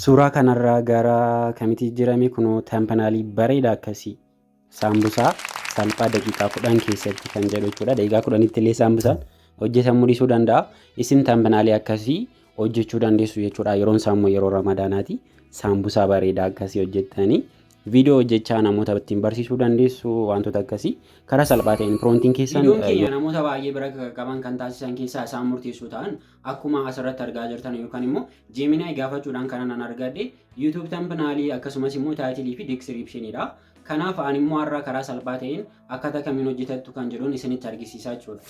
Suuraa kanarraa gara kamiti jijjiirame kunoo tampanaalii bareeda akkasii saambusaa salphaa daqiiqaa kudhan keessatti kan jedhu jechuudha. Daqiiqaa kudhanitti illee saambusaan hojjetamuu dhiisuu danda'a. Isin tampanaalii akkasii hojjechuu dandeessu jechuudha. Yeroon isaa immoo yeroo ramadaanaati. Saambusaa bareeda akkasii hojjettanii viidiyoo hojjechaa namoota ittiin barsiisuu dandeessu wantoota akkasii karaa salphaa ta'een piroontiin keessan. Viidiyoon keenya namoota baay'ee bira qaban kan taasisan keessaa isaan murteessoo ta'an Akkuma asirratti argaa jirtan yookaan immoo Gemini gaafachuudhaan kanan an argadhe YouTube thumbnail akkasumas immoo title fi description dha. Kanaaf an immoo har'a karaa salphaa ta'een akkaataa kamiin hojjetattu kan jedhuun isinitti argisiisaa jechuudha.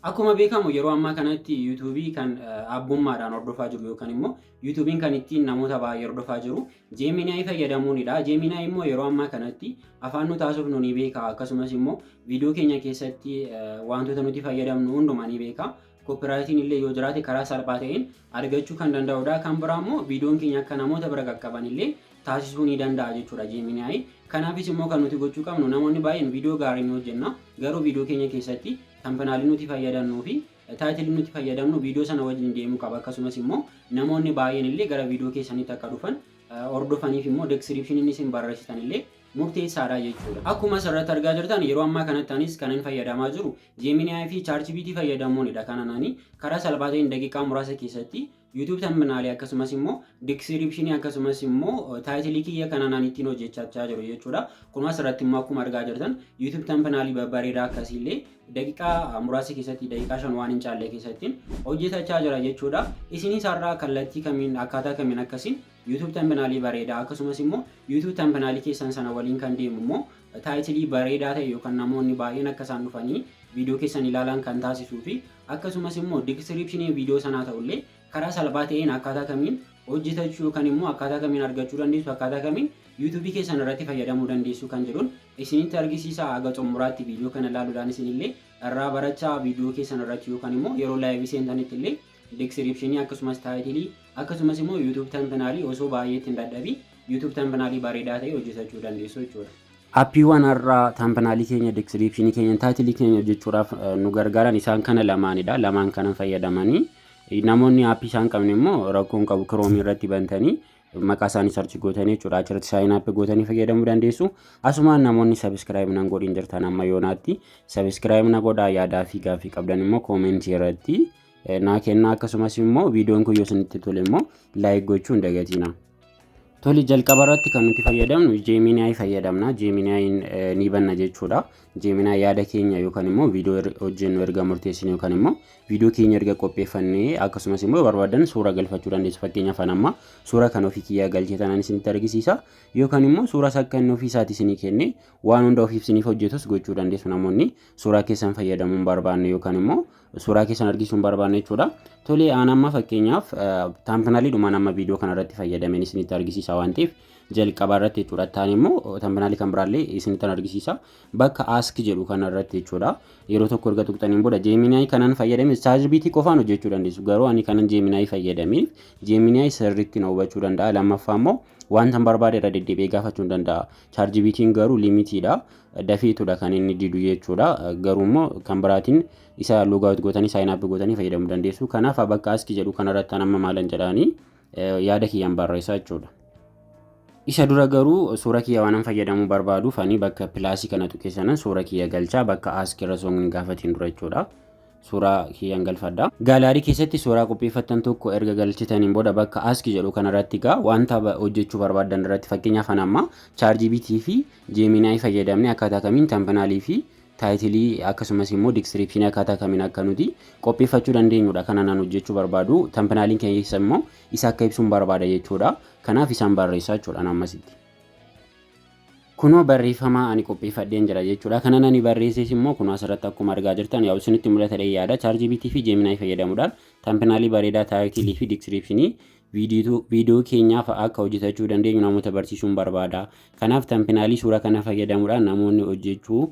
Akkuma beekamu yeroo ammaa kanatti YouTube kan abbummaadhaan hordofaa jiru yookaan immoo YouTube kan ittiin namoota baay'ee hordofaa jiru Gemini fayyadamuunidha. Gemini immoo yeroo ammaa kanatti afaan nu taasisuuf nu ni beeka akkasumas immoo viidiyoo keenya keessatti wantoota nuti fayyadamnu hundumaa ni beeka. Koopiraayitiin illee yoo jiraate karaa salphaa ta'een argachuu kan danda'udha. Kan biraa immoo viidiyoon keenya akka namoota bira qaqqaban illee taasisuu ni danda'a jechuudha Gemini. Kanaafis immoo kan nuti gochuu qabnu namoonni baay'een viidiyoo gaarii ni hojjenna. Garuu viidiyoo keenya keessatti tampenaalii nuti fayyadannuu fi taayitilii nuti fayyadamnu viidiyoo sana wajjin deemuu qaba. Akkasumas immoo namoonni baay'een illee gara viidiyoo keessanitti akka dhufan hordofaniif immoo description inni isin barreessitan illee murteessaadha jechuudha. Akkuma asirratti argaa jirtan yeroo ammaa kanatti anis kanan fayyadamaa jiru Gemini fi ChatGPT fayyadamuunidha kanan ani karaa salphaa ta'een daqiiqaa muraasa keessatti YouTube thumbnail akkasumas immoo description akkasumas immoo title kiyya kanan ani ittiin hojjechaa jiru jechuudha. Kunuma asirratti immoo akkuma argaa jirtan YouTube thumbnail babbareedaa akkasiillee daqiiqaa muraasa keessatti daqiiqaa shan waan hin caalle keessatti hojjetachaa jira jechuudha. Isinis har'aa kallattii kamiin akkaataa kamiin akkasiin YouTube Thumbnail bareedaa akkasumas immoo YouTube Thumbnail keessan sana waliin kan deemu immoo taayitilii bareedaa ta'e yookaan namoonni baay'een akka isaan dhufanii viidiyoo keessan ilaalan kan taasisuu fi akkasumas immoo diskiriipshinii viidiyoo sanaa ta'ullee karaa salphaa ta'een akkaataa kamiin hojjetachuu yookaan immoo akkaataa kamiin argachuu dandeessu akkaataa kamiin yuutuubii keessan irratti fayyadamuu dandeessu kan jedhuun isinitti argisiisa haga xumuraatti viidiyoo kana ilaaluudhaan isinillee irraa barachaa viidiyoo keessan irratti yookaan immoo yeroo laayivii seentanitti illee Diskiripshinii akkasumas taayitilii akkasumas immoo YouTube tambanaalii osoo baay'ee ittiin dadhabii YouTube tambanaalii bareedaa ta'e hojjetachuu dandeessu jechuudha. Appiiwwan har'aa tambanaalii keenya, diskiripshinii keenya, taayitilii keenya hojjechuudhaaf nu gargaaran isaan kana lamaanidha. Lamaan kana fayyadamanii namoonni appii isaan qabne immoo rakkoon qabu kiroomii irratti bantanii maqaa isaanii sarchi gootanii jechuudha. Achirratti saayin appii gootanii fayyadamuu dandeessu. Asumaan namoonni sabiskiraayib nan godhin jirtan amma yoonaatti sabiskiraayib na godhaa yaadaa fi gaaffii qabdan immoo koomentii irratti naa kennaa akkasumas immoo viidiyoon kun yoo isinitti tole immoo laayik gochuu hin dagatiina. Tole jalqaba irratti kan nuti fayyadamnu Gemini fayyadamna. Gemini ni banna jechuudha. Gemini yaada keenya yookaan immoo viidiyoo hojjennu erga murteessine yookaan immoo viidiyoo keenya erga qopheeffannee akkasumas immoo barbaadan suura galfachuu dandeessu. Fakkeenyaaf an amma suura kan ofii kiyyaa galchee tanan isinitti argisiisa. Yookaan immoo suura isaa kan ofii isaatii isinii kenne waan hunda ofiif isiniif hojjetus gochuu dandeessu namoonni suuraa keessan fayyadamuun barbaanne yookaan immoo suuraa keessan argisiisuun barbaanne jechuudha. Tolee aan amma fakkeenyaaf taampinaliidhumaan amma viidiyoo kanarratti fayyadameen isinitti argisiisa waan ta'eef jalqabaa irratti jechuudha. Taan immoo taampinaalii kan biraallee isinitti argisiisa. Bakka ask jedhu kanarratti jechuudha. Yeroo tokko erga tuqxaniin booda jeeminaayii kanan fayyadame chaatjiipiitii qofaan hojjechuu dandeessu. Garuu ani kanan jeeminaayii fayyadameef jeeminaayii sirriitti na hubachuu danda'a. Lammaffaa immoo wanta barbaade irra deddeebi'ee gaafachuu danda'a. Chaatjiipiitiin garuu liimitiidha. dafiitudha kan inni didu jechuudha. Garuu immoo kan biraatiin isa loogaawut gootanii saayin app gootanii fayyadamuu dandeessu. Kanaaf bakka aski jedhu kanarratti amma maalan jedhaanii yaada kiyyaan barreessaa jechuudha. Isa dura garuu suura kiyya waanan fayyadamuu barbaaduuf ani bakka pilaasii kana tuqee sanan suura kiyya galchaa bakka aski irra soon gaafatiin dura jechuudha. Suuraa kiyyaan galfadha. Gaalaarii keessatti suuraa qopheeffattan tokko erga galchitaniin booda bakka aski jedhu kanarratti gaa wanta hojjechuu barbaadan irratti fakkeenyaaf anamma chaarjii bitii fi Gemini fayyadamnee akkaataa kamiin Thumbnail fi Title akkasumas immoo Description akkaataa kamiin akka nuti qopheeffachuu dandeenyudha kan anaan hojjechuu barbaadu. Thumbnail keessa immoo isa akka ibsuun barbaada jechuudha. Kanaaf isaan barreessaa jechuudha ammasitti. Kunoo barreeffama ani qopheeffadheen jira jechuudha. Kanan ani barreesses immoo kunoo asirratti akkuma argaa jirtan yaa'u isinitti mul'ata dhee yaada. ChatGPT fi Gemini fayyadamuudhaan Thumbnail bareedaa, Title fi Description viidiyoo keenyaa fa'aa akka hojjetachuu dandeenyu namoota barsiisuun barbaada. Kanaaf tampinaalii suuraa kana fayyadamuudhaan namoonni hojjechuu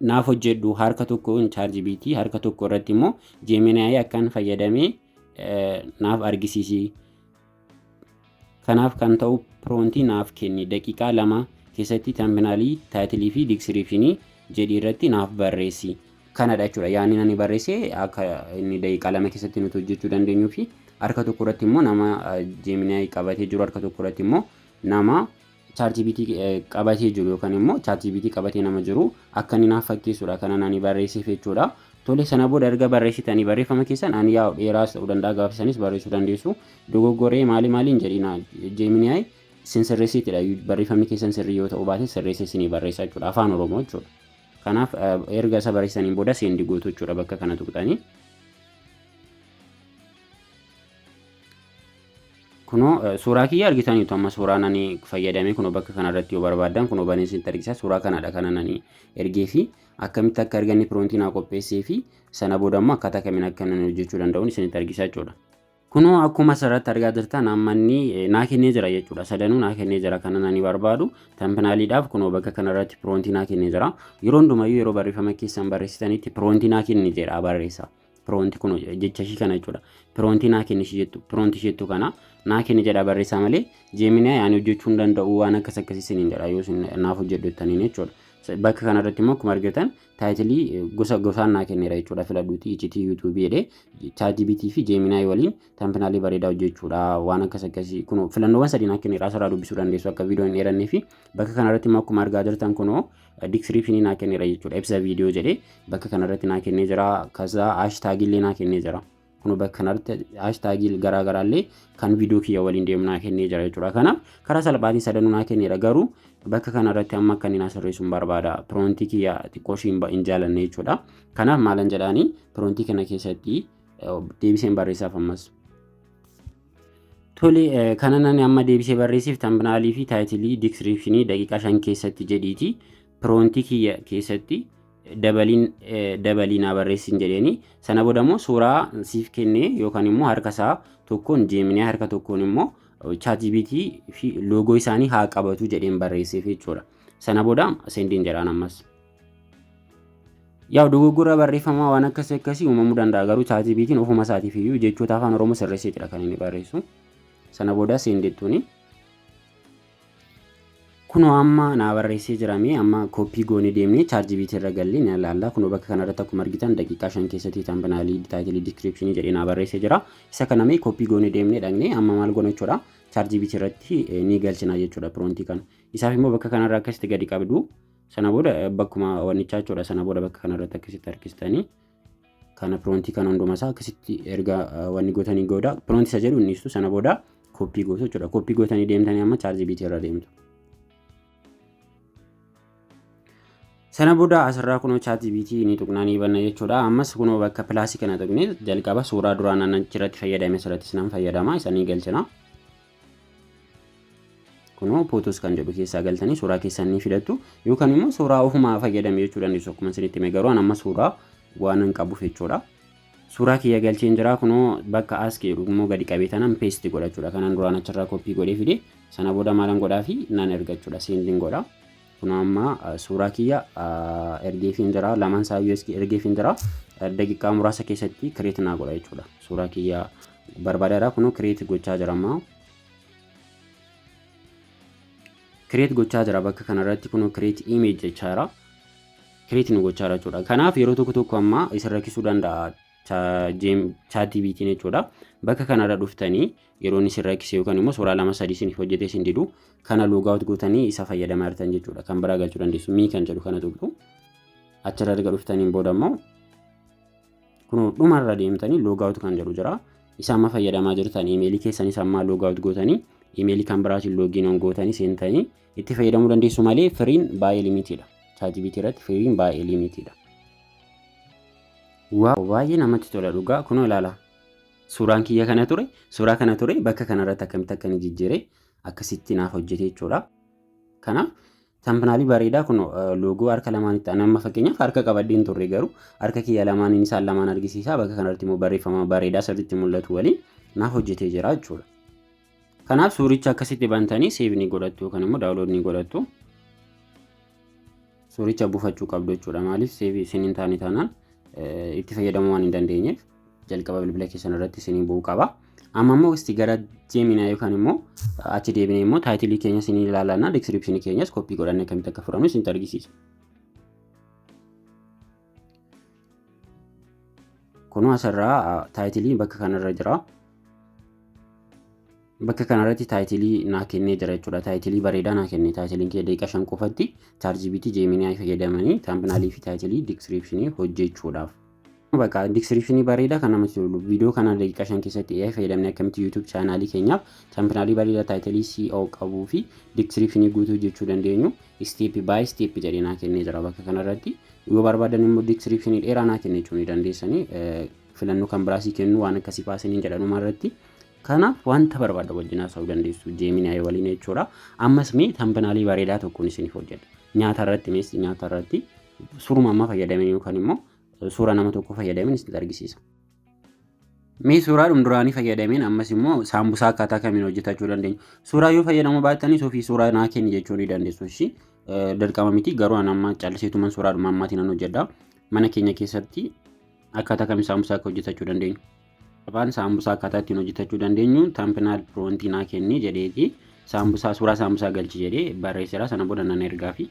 naaf hojjedhu harka tokkoon ChatGPT harka tokko irratti immoo Gemini akkan fayyadame naaf argisiisi. Kanaaf kan ta'u piroontii naaf kenni daqiiqaa lama keessatti tampinaalii taayitilii fi diskiriipshinii jedhi irratti naaf barreessi. kanadha jechuudha. Yaanni ani barreesse akka inni daqiiqaa lama keessatti nuti hojjechuu dandeenyuu fi harka tokko irratti immoo nama Gemini qabatee jiru harka tokko irratti immoo nama ChatGPT qabatee jiru yookaan immoo ChatGPT qabatee nama jiru akka inni naaf fakkeessudha kanan ani barreesseef jechuudha. Tole sana booda erga barreessitanii barreeffama keessan ani yaa dheeraas ta'uu danda'a gaafisanis barreessuu dandeessu dogoggoree maali maaliin jedhina Gemini sin sirreessitidha barreeffamni keessan sirrii yoo ta'uu baate sirreessee sinii barreessa jechuudha afaan Oromoo jechuudha. Kanaaf erga isa barreessaniin booda seendi gootu jechuudha bakka kana tuqxanii. Kunoo suuraa kiyya argitaniitu amma suuraa nani fayyadame kunoo bakka kanarratti yoo barbaaddan kunoo banee isinitti argisiisa suuraa kanadha kana nani ergee fi akkamitti akka arganne piroontii naa qopheessee fi sana booda immoo akkaataa kamiin akka nani hojjechuu danda'uun isinitti argisiisa jechuudha. Kunoo akkuma asirratti argaa jirtan amma inni naa kennee jira jechuudha. Sadanuu naa kennee jira kanan ani barbaadu. Tampinaaliidhaaf kunoo bakka kanarratti piroontii naa kennee jira. Yeroo hundumayyuu yeroo barreeffama keessan barreessitanitti piroontii naa kenni jedha barreessa. Piroontii kunoo jecha ishii kana jechuudha. Piroontii naa kenni ishii jettu piroontii ishii jettu kana naa kenni jedha barreessaa malee jeeminaa yaani hojjechuu hin danda'u waan akkas akkasii siniin jedha yoo naaf hojjedhu jettaniin jechuudha. Bakka kanarratti immoo akkuma argitan taayitilii gosa gosaan naa kenneera jechuudha filadhuuti iccitii yuutuubii jedhee chaatibiitii fi jeeminaay waliin taampinaalii bareedaa hojjechuudha waan akkas akkasii kunoo filannoowwan sadii naa kenneera asirraa dubbisuu dandeessu akka viidiyoo hin dheerannee fi bakka kanarratti immoo akkuma argaa jirtan kunoo diskiriipshinii naa kenneera jechuudha ibsa viidiyoo jedhee bakka kanarratti naa kennee jira kasaa haashtaagiillee naa kennee jira. Kun bakka kanarratti haashtaagii garaa garaallee kan viidiyoo kiyya waliin deemu naa kennee jira jechuudha. Kanaaf karaa salphaatiin sadanuu naa kenneera garuu bakka kanarratti amma akka inni naa sirreessuun barbaada. Piroontii kiyya xiqqoo ishii hin jaalanne jechuudha. Kanaaf maalan jedhaanii piroontii kana keessatti deebiseen barreessaaf ammas. Tole kanan ani amma deebisee barreessiif tambinaalii fi taayitilii diskiriipshinii daqiiqaa shan keessatti jedhiiti piroontii kiyya keessatti dabaliin dabalii naa barreessiin jedheeni sana booda immoo suuraa siif kennee yookaan immoo harka isaa tokkoon jeeminee harka tokkoon immoo chaatibiitii fi loogoo isaanii haa qabatu jedheen barreesseef jechuudha. Sana booda seendiin jedhaan ammas. Yaa dogoggora barreeffamaa waan akkasii akkasii uumamuu danda'a garuu chaatibiitiin ofuma isaatiif iyyuu jechoota afaan oromoo sirreesseetidha kan inni barreessu. Sana booda seendeettuuni. Kunoo amma naa barreessee jira mee amma koppii goonee deemnee chaarjibiitii irra gallee ni ilaalla. Kunoo bakka kanarratti akkuma argitan daqiiqaa shan keessatti tambanaalii, taayitilii, diskiripshinii jedhee naa barreessee jira. Isa kana mee koppii goonee deemnee dhaqnee amma maal goona jechuudha. Chaarjibiitii irratti ni galchina jechuudha piroontii kana. Isaaf immoo bakka kanarra akkasitti gadi qabdu. Sana booda bakkuma wannichaa jechuudha. Sana booda bakka kanarratti akkasitti harkistanii kana piroontii kana hunduma isaa akkasitti erga wanni gootanii gooda piroontii isa jedhu innistu sana booda kooppii gootu jechuudha kooppii gootanii deemtanii amma chaarjii biitii irra deemtu. Sana booda asirraa kunoo chaarjii biitii ni tuqnaa ni banna jechuudha ammas kunoo bakka pilaasii kana tuqnee jalqaba suuraa duraan annan achirratti fayyadame asirrattis nan fayyadama isanii galchina. kunoo photos kan jedhu keessaa galtanii suuraa keessan ni filattu yookaan immoo suuraa ofumaa fayyadame jechuu dandeessu akkuma isinitti hime garuu an amma suuraa waan hin qabuuf jechuudha. Suuraa kiyya galcheen jira kunoo bakka as jedhu immoo gadi qabee tanan peesti godhachuudha kanan duraan achirraa koppii godhee fide sana booda maalan godhaa fi nan ergachuudha seendin godha. Kunoo amma suuraa kiyya ergeefiin jira. Lamaan isaayyuu iski ergeefiin jira. Daqiiqaa muraasa keessatti kireet naa godha jechuudha. Suuraa kiyya barbaadeera. Kunoo kireet gochaa jira amma. Kireet gochaa jira bakka kanarratti kunoo kireet imeej jechaa jira. Kireet nu gochaa jira jechuudha. Kanaaf yeroo tokko tokko amma isin rakkisuu danda'a chaatiibiitiin jechuudha. Bakka kanarra dhuftanii yeroo inni isin rakkise yookaan immoo suuraa lama sadii isiniif hojjetee isin didu kana loogaawut gootanii isa fayyadamaa jirtan jechuudha kan biraa galchuu dandeessu mii kan jedhu kana tuqxu achirra erga dhuftaniin booda immoo kun dhumarra deemtanii loogaawut kan jedhu jira isa amma fayyadamaa jirtan imeelii keessanis ammaa loogaawut gootanii imeelii kan biraatiin loogiin on gootanii seentanii itti fayyadamuu dandeessu malee firiin baay'ee limitiidha chaatibiitii irratti firiin baay'ee limitiidha. Waaw baay'ee namatti tola dhugaa kunoo ilaala. Suuraan kiyya kana ture, suuraa kana ture bakka kanarratti akkamitti akka inni jijjiire akkasitti naaf hojjete jechuudha. Kanaaf tambanaalii bareedaa kun loogoo harka lamaanitti ani amma fakkeenyaaf harka qabadhee hin turre garuu harka kiyya lamaaniin isaan lamaan argisiisaa bakka kanarratti immoo barreeffama bareedaa sirriitti mul'atu waliin naaf hojjetee jira jechuudha. Kanaaf suuricha akkasitti bantanii seev ni godhattu yookaan immoo daawulood ni godhattu. Suuricha buufachuu qabdu jechuudha. Maaliif seev isin hin taane taanaan itti fayyadamuu waan hin dandeenyeef jalqaba bilbila keessan irratti isin bu'uu qaba. Amma immoo isti gara jeeminaa yookaan immoo achi deebinee immoo taayitilii keenya isin ilaalannaa diskiripshinii keenyas koppii godhannee akkamitti akka fudhannu isin argisiisa. Kunoo asirraa taayitiliin bakka kanarra jira. Bakka kanarratti taayitilii naa kennee jira jechuudha. Taayitilii bareedaa naa kenne. Taayitiliin kee daqiiqa shan qofatti chaarjibiitii jeeminii fayyadamanii taampinaalii fi taayitilii diskiriipshinii hojjechuudhaaf. Bakka diskiriipshinii bareedaa kan namatti tolu viidiyoo kana daqiiqa shan keessatti AI fayyadamnee akkamitti YouTube chaanaalii keenyaaf taampinaalii bareedaa taayitilii CO qabuu fi diskiriipshinii guutuu hojjechuu dandeenyu isteeppi baay'ee isteeppi jedhee naa kennee jira bakka kanarratti. Yoo barbaadan immoo description dheeraa naa kenna jechuun ni dandeessanii filannoo kan biraa sii kennu waan akkasii fa'aa isiniin jedha dhuma irratti. Kanaaf wanta barbaadda wajjin haasa'uu dandeessu Gemini waliin jechuudha. Ammas mee tambanaalii bareedaa tokkoon isiniif hojjedha. Nyaata irratti mees nyaata irratti suuruma ammaa fayyadamin yookaan immoo suura nama tokko fayyadamin isinitti argisiisa. Mee suuraa dhumduraanii fayyadameen ammas immoo saambusaa akkaataa kamiin hojjetachuu dandeenya. Suuraa yoo fayyadamuu baattanis ofii suuraa naa kenni jechuu ni dandeessu. Ishii dirqama miti garuu an amma calliseetuman suuraa dhuma ammaatiin nan hojjedha. Mana keenya keessatti akkaataa kamiin saambusaa akka hojjetachuu dandeenyu. Afaan saambusaa akkaataa ittiin hojjetachuu dandeenyu taampinaal piroontii naa kenni jedheeti. Saambusaa suuraa saambusaa galchi jedhee barreesseera sana booda nan ergaafi.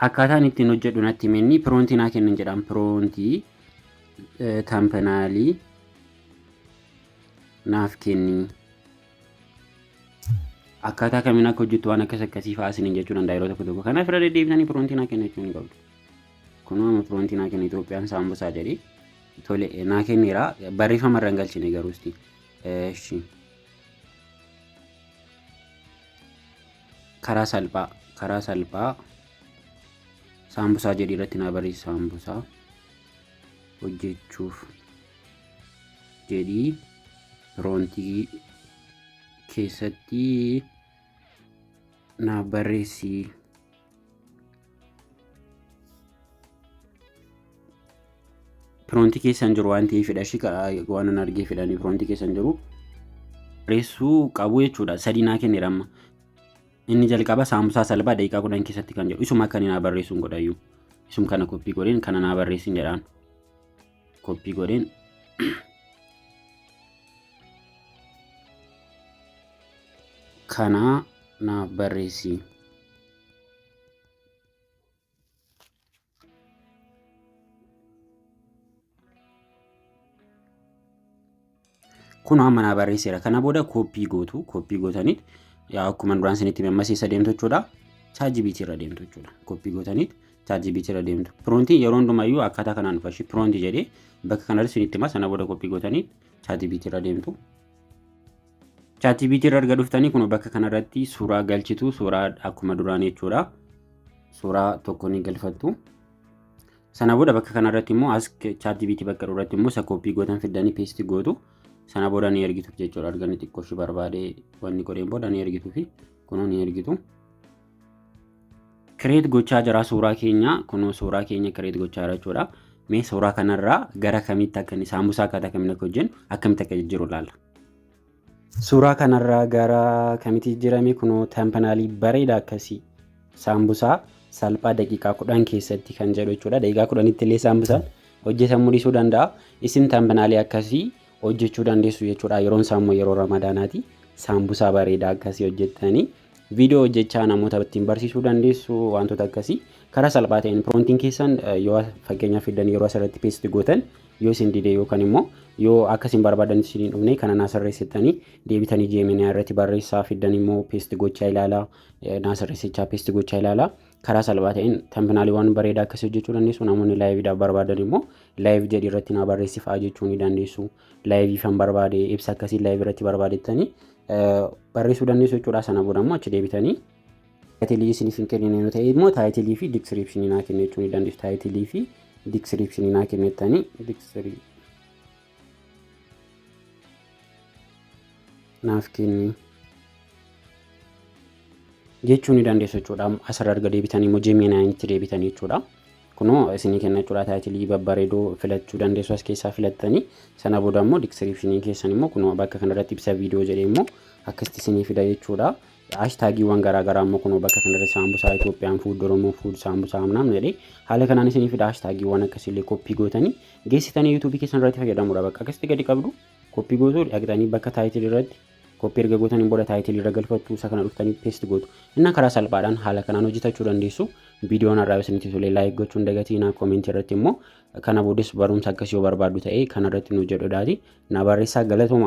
Akkaataa inni ittiin hojjedhu natti hime inni piroontii naa kennin jedhaan piroontii tampenaalii naaf kenni. Akkaataa kamiin akka hojjettu waan akkas akkasii fa'aa isiniin jechuu danda'a yeroo tokko tokko. Kanaaf irra deddeebisanii piroontii naa kenna jechuun ni qabdu. Kunoo amma piroontii naa kenna Itoophiyaan saambusaa jedhee tole naa kenneera barreeffama irra hin galchine garuu isti. Eshi. karaa salphaa karaa salphaa saambusaa jedhii irratti naa barreessi saambusaa hojjechuuf jedhii piroontii keessatti naa barreessi. piroontii keessan jiru waan ta'eefidha ishii waan hin argee fidhanii piroontii keessan jiru reessuu qabu jechuudha sadii naa kenneera amma inni jalqaba saamusaa salbaa daqiiqaa kudhan keessatti kan jedhu isuma kan naa barreessuun godhayyuu isum kana koppii godheen kana naa barreessin jedhaan koppii godheen kana naaf barreessi. kun amma naa barreesseera kana booda kooppii gootu kooppii gootaniit yaa akkuma duraan isinitti mammasiisa deemtu jechuudha chaajibiitii irra deemtu jechuudha kooppii gootaniit chaajibiitii irra deemtu piroontii yeroo hundumayyuu akkaataa kanaan dhufa ishii piroontii jedhee bakka kanarratti isinitti hima sana booda kooppii gootaniit chaajibiitii irra deemtu ChatGPT irra erga dhuftanii kun bakka kanarratti suuraa galchitu suuraa akkuma duraan jechuudha. Suuraa tokko ni galfattu. Sana booda bakka kanarratti immoo as ChatGPT bakka irratti immoo isa koppii gootan fiddanii peestii gootu. Sana booda ni ergituuf jechuudha. Arganii xiqqoo ishee barbaadee wanni godheen booda ni ergituufi kunuu ni ergitu. Kireet gochaa jira suuraa keenya kunoo suuraa keenya kireet gochaa jira jechuudha. Mee suuraa kanarraa gara kamitti akka inni saambusaa akkaataa akkamiin akka hojjennu akkamitti akka jijjiiru ilaalla. Suuraa kanarraa gara kamitti jijjiirame kunoo tampanaalii bareeda akkasii saambusaa salphaa daqiiqaa kudhan keessatti kan jedhu jechuudha. Daqiiqaa kudhanitti illee saambusaan hojjetamuu dhiisuu danda'a. Isin tampanaalii akkasii hojjechuu dandeessu jechuudha. Yeroon isaa immoo yeroo ramadaanaati. Saambusaa bareedaa akkasii hojjettanii Viidiyoo hojjechaa namoota ittiin barsiisuu dandeessu wantoota akkasii karaa salphaa ta'een piroontiin keessan yoo fakkeenyaaf fiddan yeroo asirratti peesti gootan yoo isin dide yookaan immoo yoo akka isin barbaadan isin hin dhufne kana naa sirreessitanii deebitanii jeeminaa irratti barreessaa fiddan immoo peesti gochaa ilaalaa naa sirreessichaa peesti gochaa ilaalaa karaa salphaa ta'een tampiinaaliiwwan bareedaa akkasii hojjechuu dandeessu namoonni laayiviidhaaf barbaadan immoo laayiv jedhi irratti naa barreessifaa jechuu ni dandeessu. laayiviifan barbaade ibsa akkasii laayiv irratti barbaadettanii barreessuu dandeessu jechuudha. Sana booda immoo achi deebitanii taayitilii isiniif hin kennine yoo ta'e immoo taayitilii fi diskiriipshinii naa kennu jechuu ni dandeessu. Taayitilii fi diskiriipshinii naa kennettanii diskirii naaf kenni jechuu ni dandeessu jechuudha. Asirra erga deebitanii immoo Gemini itti deebitanii jechuudha. Kunoo isinii kenna jechuudha taayitilii babbareedoo filachuu dandeessu as keessaa filattanii sana booda immoo diskiripshinii keessan immoo kunoo bakka kanarratti ibsa viidiyoo jedhee immoo akkasitti isinii fida jechuudha. Haashtaagiiwwan garaagaraa immoo kunoo bakka kanarratti saambusaa Itoophiyaan fuud Oromoo fuud saambusaa amnaam jedhee haala kanaan isinii fida haashtaagiiwwan akkasiillee koppii gootanii geessitanii yuutuubii keessan irratti fayyadamuudha bakka akkasitti gadi qabdu koppii gootuu dhaqxanii bakka taayitilii irratti Koppii erga gootaniin booda taayitilii irra galfattu isa kana dhuftanii peest gootu. Innaa karaa salphaadhaan haala kanaan hojjetachuu dandeessu. Viidiyoon har'aa isinitti tole laayik gochuu hin dagatinaa koomentii irratti immoo kana boodas barumsa akkasii yoo barbaaddu ta'e kana irratti nu jedhu daati na barreessaa galatooma.